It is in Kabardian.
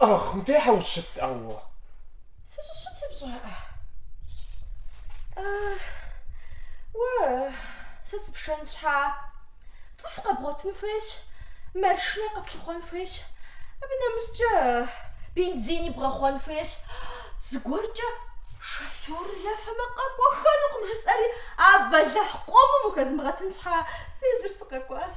Ах, модэхьэ ущыт ауэ. Сыщыщытыр пщӏэиӏэ. Уэ, сэ сыпшэн щхьа, цӏыху къэбгъуэтын хуейщ, маршынэ къэплъыхъуэн хуейщ, абы нэмыщӏкӏэ бензини бгъэхъуэн хуейщ. Зыгуэркӏэ шофер ефэмэ къэкӏуэххэнукъым жысӏэри, а бэлэхь къомым ухэзмыгъэтын щхьа, сэ езыр сыкъэкӏуащ.